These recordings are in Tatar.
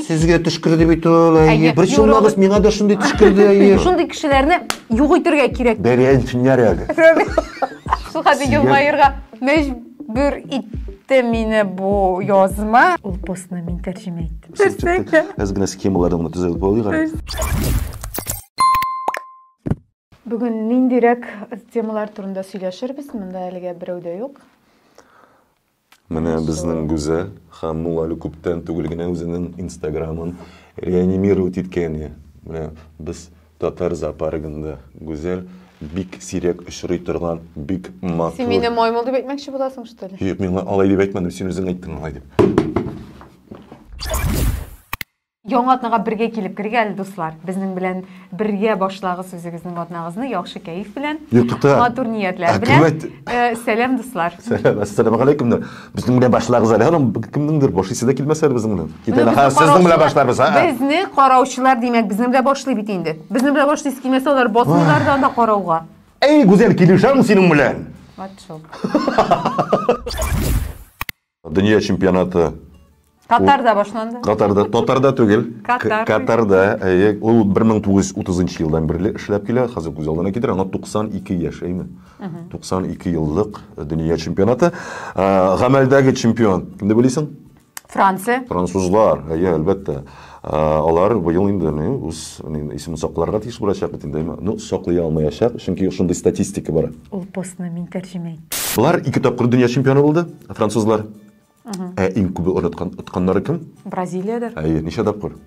Сезгә төшкерде бит ул. Әйе. Әйе. Бер чулмагыз миңа да шундый төшкерде. Әйе. Шундый кешеләрне юк итергә кирәк. Бәрәнсеннәр әле. Шул хәтле елмаерга мәҗбүр итте мине бу язма. Ул постны мин тәрҗемә иттем. Төшкерде. Әз генә схемаларны гына төзәтеп алыйк әле. Бүген ниндирәк темалар турында сөйләшербез? Монда әлегә берәү дә юк. Менә безнең Гүзәл Ханнул әле күптән түгел генә үзенең инстаграмын реанимировать иткәне. Менә без татар зоопаргында Гүзәл бик сирәк очрый торган, бик матур. Син мине маймыл дип әйтмәкче буласың, что ли? Юк, мин алай дип әйтмәдем, син үзең әйттең алай дип. Яңа атнага бергә килеп кергә әле, дуслар. Безнең белән бергә башлагыз үзегезнең атнагызны яхшы кәеф белән, Юкта. матур ниятләр белән. Ә, сәлам, дуслар. Сәлам, ассаламу алейкум. Безнең белән башлагыз әле. Аның кемнеңдер башлыйсы да килмәсә әле безнең белән. Китә лаха, сезнең белән башларбыз, а? Безне караучылар, димәк, безнең белән башлый бит инде. Безнең белән башлыйсы килмәсә, алар басмыйлар да анда карауга. Әй, гүзәл, килешәм синең белән. Вот шул. Дөнья чемпионаты Катарда башланды. Катарда, татарда түгел. Катар. Катарда. Әйе, ул 1930 елдан бирле эшләп килә. Хәзер күз алдына китер, аңа 92 яшь, әйме? 92 еллык дөнья чемпионаты. Гамәлдәге чемпион, кемне белисең? Франция. Французлар, әйе, әлбәттә. Алар быел инде ни, үз ни, исемен сакларга тиеш булачак бит инде, әмма, ну, саклый алмаячак, чөнки шундый статистика бар. Ул постны мин тәрҗемә иттем. Болар ике тапкыр дөнья чемпионы булды, французлар. Ә иң күбе оныткан, отканнары кем? Бразилиядер. Әйе, ничә тапкыр?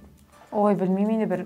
Ой, белмим инде, бер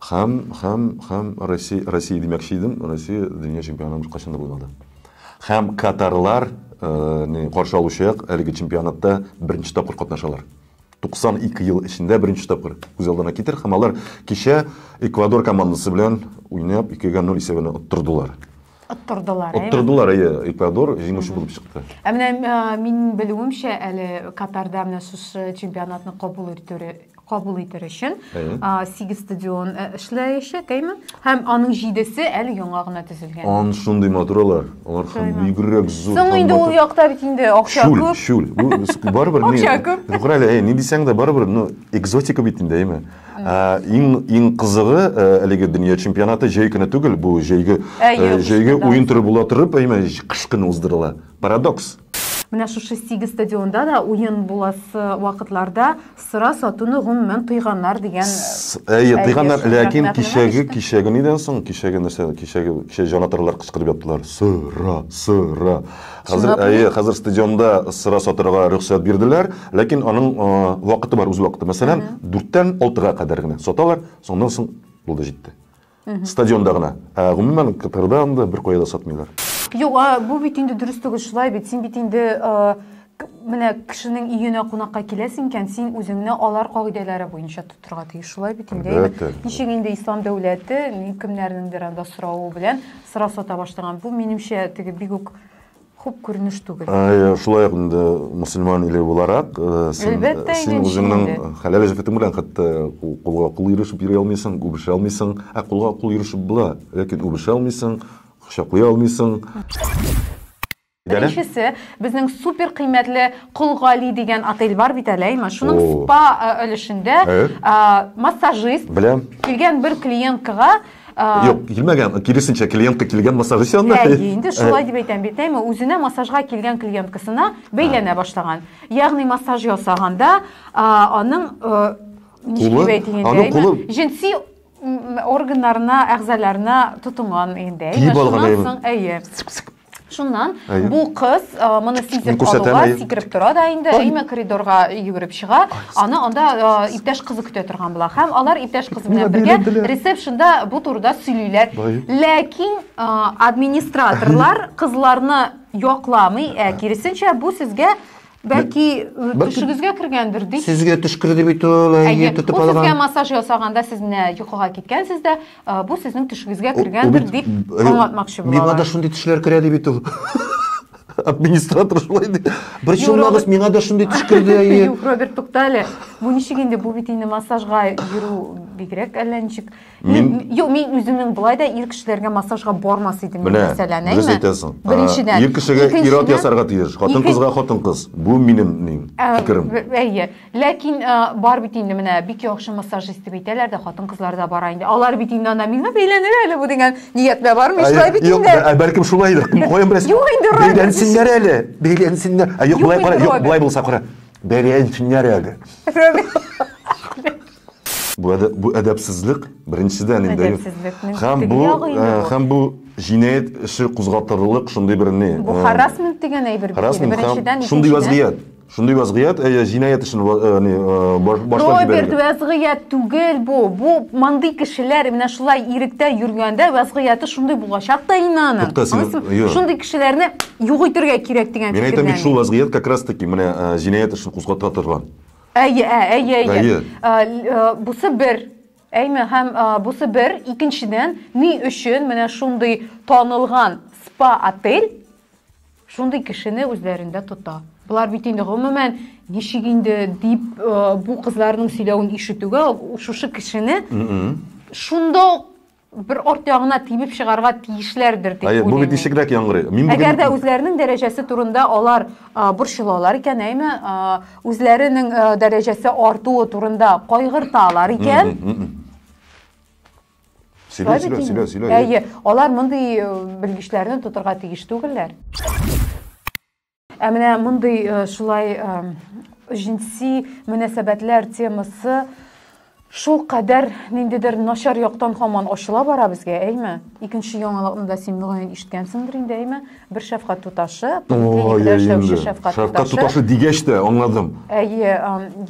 Һәм, һәм, һәм Россия, Россия димәкче идем, Россия дөнья чемпионы бер кайчан да булмады. Һәм катарлар э, каршы алучы як әлеге чемпионатта беренче тапкыр катнашалар. 92 ел эчендә беренче тапкыр күз алдына китер һәм алар кичә Эквадор командасы белән уйнап 2-0 исәбенә оттырдылар. Оттырдылар, әйе? Оттырдылар, әйе, Эквадор җиңүче булып чыкты. Ә менә мин белүемчә, әле Катарда менә шушы чемпионатны кабул итү кабул итер өчен сигез стадион э, эшләячәк, әйме? Һәм аның җидесе әле яңа гына төзелгән. Ан шундый матур алар. Алар һәм бигрәк зур. Соң инде ул якта бит инде акча күп. Шул, шул. Барыбер ни. Акча күп. Югары әле, ни дисәң дә барыбер, ну, экзотика бит инде, әйме? Ә, иң иң кызыгы ә, әлеге дөнья чемпионаты җәй көне түгел, бу җәйге ә, җәйге уен төре була торып, әйме кыш көне уздырыла. Парадокс. Менә шушы сигез стадионда да уен буласы вакытларда сыра сатуны гомумән тыйганнар дигән. Әйе, тыйганнар, ләкин кичәге кичәге нидән соң, кичәге нәрсә, кичәге кичә җанатарлар кычкырып яттылар. Сыра, сыра. Хәзер, әйе, хәзер стадионда сыра сатырга рөхсәт бирделәр, ләкин аның вакыты бар, үз вакыты. Мәсәлән, 4-тән 6-га кадәр генә саталар, соннан соң булды җитте. Стадионда гына. Ә гомумән Катарда анда бер кая да сатмыйлар. Юк, бу бит инде дөрес түгел, шулай бит. Син бит инде менә кешенең өенә кунакка киләсең икән, син үзеңне алар кагыйдәләре буенча тот. торга тиеш шулай бит инде әлбәттә ничек инде ислам дәүләте кемнәрнеңдер анда соравы белән сорау сата башлаган бу минемчә теге бик үк хуп күренеш түгел ә, шулай ук инде мөселман иле буларак э, син, әлбәттә э, син үзеңнең хәләл җефетең белән хәтта кулга кул ирешеп йөри алмыйсың үбешә алмыйсың ә кулга кул ирешеп була ләкин үбешә алмыйсың кочаклый алмыйсың Беренчесе, безнең супер кыйммәтле Кол Гали дигән отель бар бит әле, әйме? Шуның спа э, өлешендә э? э, массажист Беләм. килгән бер клиенткага Юк, килмәгән, киресенчә клиентка килгән массажист янына. Әйе, инде шулай дип әйтәм бит, әйме? Үзенә массажга килгән клиенткасына бәйләнә башлаган. Ягъни массаж ясаганда, аның ничек дип әйтәйен, аның кулы җенси органнарына, әгъзаларына тотынган инде. Тиеп алган, әйе. Шуннан Әйе. бу кыз а, моны Мин сизеп күрсәтәм, алуга әйе. сикереп тора да инде, әйме коридорга йөгереп чыга. Аны анда а, иптәш кызы көтә торган була. Һәм алар иптәш кыз белән Миңа бергә бәйләделәр. ресепшнда бу турыда сөйлиләр. Әйе. Ләкин а, администраторлар кызларны якламый, ә киресенчә бу сезгә Бәлки төшегезгә кергәндер ди. Сезгә төшкерде бит ул, әйе, тотып алган. Сезгә массаж ясаганда сез менә йокыга киткәнсез дә, бу сезнең төшегезгә кергәндер дип аңлатмакчы булалар. Миңа да шундый төшләр керә ди бит ул. Администратор шулай ди. Бер чулмагыз миңа да шундый төш керде, әйе. Юк, Роберт, туктале. Бу ничек инде, бу бит инде массажга йөрү бигрәк әллә ничек. Мин юк, мин үземнең болай да ир кешеләргә массажга бармас идем Менә, мәсәлән, дөрес әйме? әйтәсең. Ә, Беренчедән. Ир кешегә ир-ат Икенчедән, ясарга тиеш, хатын ике- кызга хатын кыз. Бу минем ни, Ә, фикерем. б- Әйе. Ләкин ә, бар бит инде менә бик яхшы массажист дип әйтәләр дә, хатын-кызлар да бара инде. Алар бит инде анда мин әйләнер әле бу дигән ниятләр бармы? Шулай бит Юк, инде. ә, бәлкем шулайдыр. Кем каян беләсең? Юк инде, Райдер, Бәйләнсеннәр әле. Бәйләнсеннәр. Ә юк, Юк болай инде, кара, юк, Райдер. болай булса кара. Бәйләнсеннәр әле. Рәбби. Бу әдә, бу әдәпсезлек беренчедән инде. Әдәпсезлекнең һәм бу э, һәм бу җинаять эше кузгатырлык шундый бер не. Бу э, харасмент дигән әйбер бит. Беренчедән шундый вазгыять. Шундый вазгыять э, җинаять эшен не башлап Роберт вазгыять түгел бу. Бу мондый кешеләр менә шулай иректә йөргәндә вазгыяты шундый булачак та инанын. Шундый кешеләрне юк итәргә кирәк дигән фикердә. Мин әйтәм бит шул вазгыять как раз таки менә җинаять эшен кузгата торган. Әйе, ә, әйе, әйе. Әйе. Ә, ә, бусы бер. Әйме, һәм ә, бусы бер. Икенчедән, ни өчен менә шундый танылган спа-отель шундый кешене үзләрендә тота? Болар бит инде гомумән ничек инде дип ә, бу кызларның сөйләвен ишетүгә шушы кешене шунда бер арт ягына тибеп чыгарга тиешләрдер дип уйлыйм. Әйе, бу бит ничегрәк яңгырый. Мин бүген Әгәр дә үзләренең дәрәҗәсе турында алар борчылалар икән, әйме, үзләренең дәрәҗәсе артуы турында кайгырталар икән, Сөйлә, сөйлә, сөйлә, сөйлә. Әйе, алар мондый белгечләрне тотырга тиеш түгелләр. Ә менә мондый э, шулай э, җинси мөнәсәбәтләр темасы шул кадәр ниндидер начар яктан хаман ачыла бара безгә, әйме? Икенче яңалыкны да син мөгаен ишеткәнсеңдер инде, әйме? Бер шәфкать туташы, поликлиникада эшләүче шәфкать туташы. Шәфкать туташы дигәч тә аңладым. Әйе,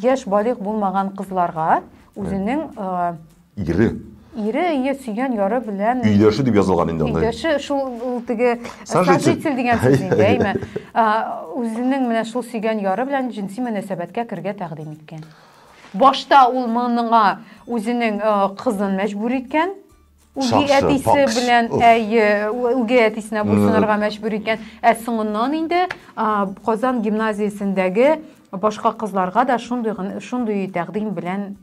яшь балигъ булмаган кызларга үзенең Ире. Ире, ие, сөйгән яры белән. Өйдәше дип язылган инде анда. Өйдәше шул ул теге сожитель дигән сүз инде, әйме. Үзенең менә шул сөйгән яры белән җенси мөнәсәбәткә кергә тәкъдим иткән. Башта ул моңа үзенең кызын мәҗбүр иткән, үги әтисе белән әйе, үги әтисенә буйсынырга мәҗбүр иткән. Ә соңыннан инде Казан гимназиясендәге башка кызларга да шундый шундый тәкъдим белән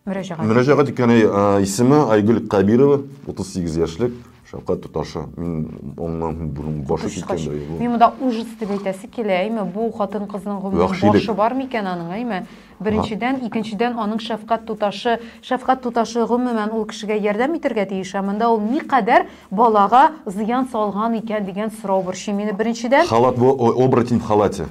мөрәҗәгать мөрәҗәгать иткәне исеме айгөл кабирова утыз сигез яшьлек шәфкать туташы мин аннан борын башы киткәндер мин монда ужас дип әйтәсе килә әйме бу хатын кызның гомерен башы бар микән аның әйме беренчедән икенчедән аның шәфкать туташы шәфкать туташы гомумән ул кешегә ярдәм итәргә тиеш ә монда ул никадәр балага зыян салган икән дигән сорау борчый мине беренчедән халат бу оборотень в халате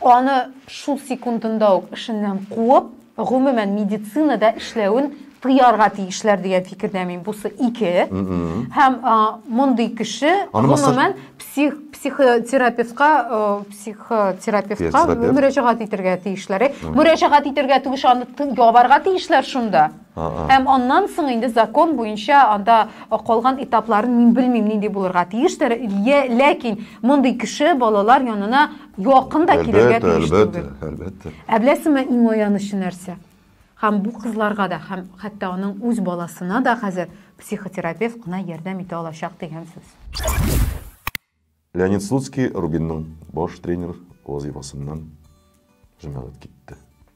Аны шул секундында ук эшеннән куып, гомумән медицинада эшләвен тыярга тиешләр дигән фикердә мин. Бусы ике. Һәм мондый кеше гомумән псих психотерапевтка психотерапевтка мөрәҗәгать итәргә тиешләр. Мөрәҗәгать итәргә түгеш аны ябарга тиешләр шунда. Һәм аннан соң инде закон буенча анда калган этапларын мин белмим нинди булырга тиештер. Ләкин мондый кеше балалар янына Якын да килергә тиеш түгел. Әлбәттә, Ә беләсеңме, иң аянычы нәрсә? Һәм бу кызларга да, һәм хәтта аның үз баласына да хәзер психотерапевт кына ярдәм итә алачак дигән сүз. Леонид Слуцкий Рубинның баш тренер вазыйфасыннан җәмәгать китте.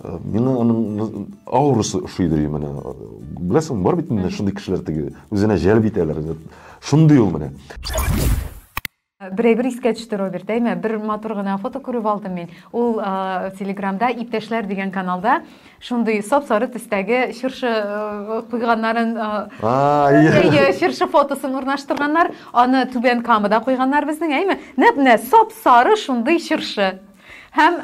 Э, миңа аның аурасы ошыйдыр менә беләсең бар бит инде шундый кешеләр теге үзенә җәлеп итәләр шундый ул менә берәйбер искә төште роберт әйме бер матур гына фото күреп алдым мин ул ә, телеграмда иптәшләр дигән каналда шундый сап сары төстәге чыршы э, куйганнарын э, чыршы фотосын урнаштырганнар аны түбән камада куйганнар безнең әйме нәп менә сап сары шундый чыршы Һәм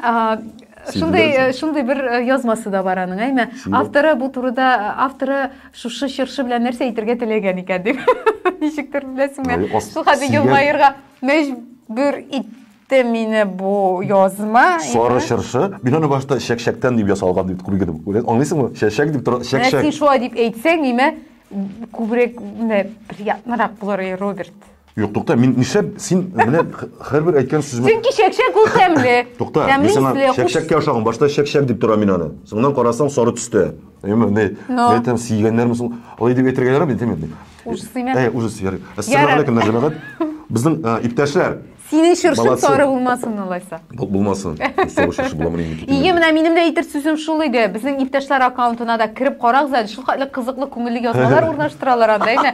шундый шундый бер язмасы да бар аның, әйме? Авторы бу турыда авторы шушы чыршы белән нәрсә әйтергә теләгән икән дип. Ничектер беләсеңме? Шул хәтле елмаерга мәҗбүр итте китте мине бу язма. Сары чыршы. Мин аны башта чәкчәктән дип ясалган дип күргән идем. Аңлыйсыңмы? Чәчәк дип тора, чәкчәк. Син шулай дип әйтсәң, нимә күбрәк менә приятнырак булыр, Роберт. Юк, тукта, мин нишләп син менә һәрбер әйткән сүземә Чөнки чәкчәк ул тәмле. Тукта, мин сиңа чәкчәккә ошаган, башта чәкчәк дип тора мин аны. Соңыннан карасаң сары төстә. Әйме, не, әйтәм, сигәннәрме соң? Алай дип әйтергә ярамый, әйтәм инде. Уже сыймә. Әй, уже сыймә. Ассаламу алейкум, җәмәгать. Безнең иптәшләр. Синең чыршың сары булмасын алайса. Булмасын. Сары чыршы буламы инде? Ие, менә минем дә әйтер сүзем шул иде. Безнең иптәшләр аккаунтына да кереп карагыз әле. Шулкадәр кызыклы, күңелле язмалар урнаштыралар анда, әйме?